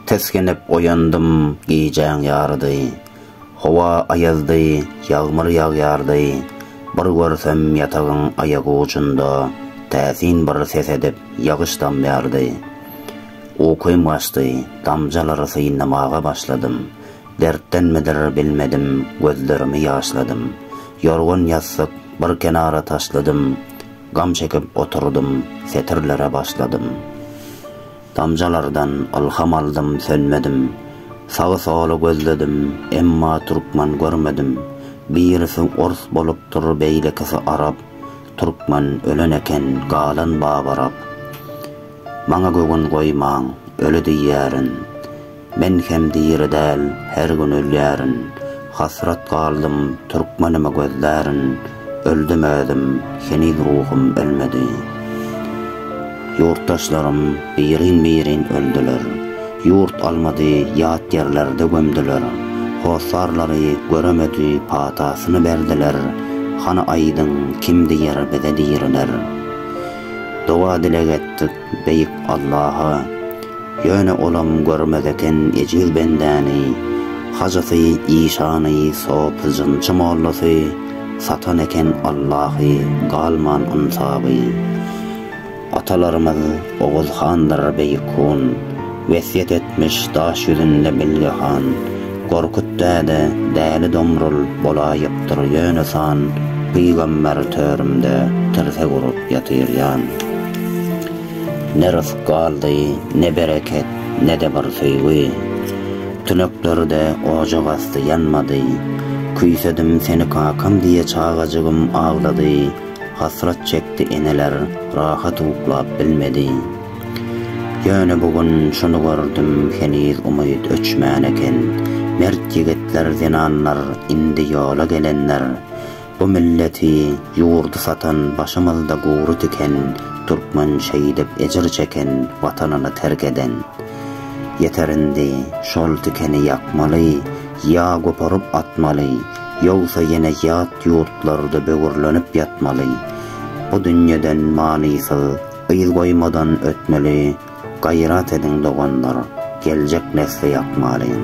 Tesgenip oýandym gijäň ýarydy. Howa aýazdy, ýagmyr ýagýardy. Bir görsem ýatagyň aýak ujunda täsin bir ses edip ýagyş damýardy. Ukym gaçdy, damjalary synlamaga başladym. Dertdenmidir, bilmedim, gözlerimi ýaşladym. Ýorgan-ýassyk bir kenara taşladym, Gam çekip oturdym, setirlere başladym. Damjalardan ylham aldym, sönmedim. Sagy-soly gözledim, emma türkmen görmedim. Birisi ors bolupdyr, beýlekisi arap, Türkmen ölen eken, galan babarap. Maňa göwün goýmaň, öli diýýärin. Men hem diri däl her gün ölýärin Hasrat galdym türkmenimi gözlärin Öldüm özüm heniz ruhum ölmedi Ýurtdaşlarym birin birin öldüler Ýurt almady ýat ýerlerde gömdüler Hossarlary göremedi patasyny berdiler Hany aýdyň kim diýer bize diriler Doga dileg etdik Beýik Allaha, ýöne olam görmez eken ejiz bendäni, hajysy, işany, sopy, jynçy, mollasy, satan eken Allahy, galman ynsaby. Atalarymyz Oguz handyr beýik hun. Wesýet etmiş daş ýüzünde Bilge han, Gorkut däde, Däli Domrul bolaýypdyr ýöne san, Pygamber törümde tirsek urup ýatyr ýan. Ne rysk galdy, ne bereket, ne-de bir söýgi, Tüneklerde ojak asty ýanmady. Küýsedim seni kakam diýe çagajygym aglady, Hasrat çekdi eneler, rahat uklap bilmedi. Ýöne bu gün şuny gördüm heniz umyt öçmän eken mert ýigitler zenanlar indi ýola gelenler bu milleti ýurdy satan başymyzda gury tiken türkmen şeýdip ejir çeken watanyny terk eden ýeter indi şol tikeni ýakmaly ýa goparyp atmaly ýogsa ýene ýat ýurtlarda böwürlenip ýatmaly bu dünýeden manysyz Yz goýmadan ötmeli gaýrat ediň doganlar geljek nesli ýakmalyň.